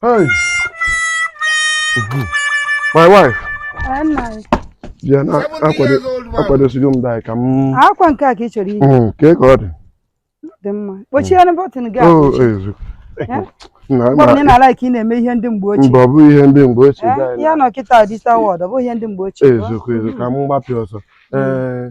Hey. My wife. Ya na akwadosigo m dai ka m. Akwa nke a ka ị chọrọ iyi. Mm, kee ka ọ dị. Dị mma. Kpochienụ bọtịn gị ahụ. Oh, ezu. Mgbe niile ka ị na-eme ihe ndị mgbe ochie. Mba ọ bụ ihe ndị mgbe ochie. Anyị nọ kịta digital world, ọ bụ ihe ndị mgbe ochie. Eziokwu eziokwu ka m gbapịa ọsọ. Ee.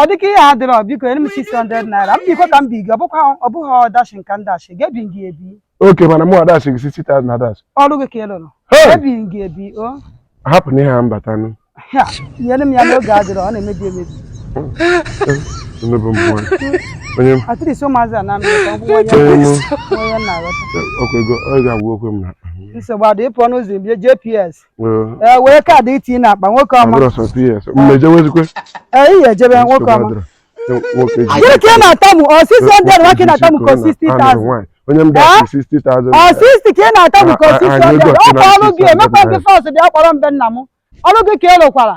ọ dịka ihe adịrọ biko nye m 600 naira m biko ka m bi gị ọ bụkwa ọ bụghị ọdash ka m dashị gị ebi gị ebi oke mana mụ adashị gị 60,000 adashị ọrụ gị ka ị lụrụ Hey! ebi gị ebi o hapụ na ihe a mbatanụ ya nyere m ya na oge adịrọ ọ na-emebi emebi emebe mbụ onye m at least ụmụazị a na-amị ka ọgwụgwọ onye onye m onye na-aghọta ọkwa ego ọ ga-agwa okwe m na nsogbu adị ịpụ ọnụ ụzọ ibie jps ee ee were kaadị tinye n'akpa nwoke ọma abụrụ sọ ps mmejewezikwe ee ihe ejebe nwoke ọma nwoke ji gịnị ka ị na-atamu ọ 600 nwa ka ị na-atamu ka ọ 60,000 onye m dashị 60,000 ọ 60 ka ị na-atamu ka ọ Ah, ah, 600 ah, ọ bụ ọrụ gị ah, emekwa gị ah, force bịa kpọrọ m be nna m ọrụ gị ka ị rụkwara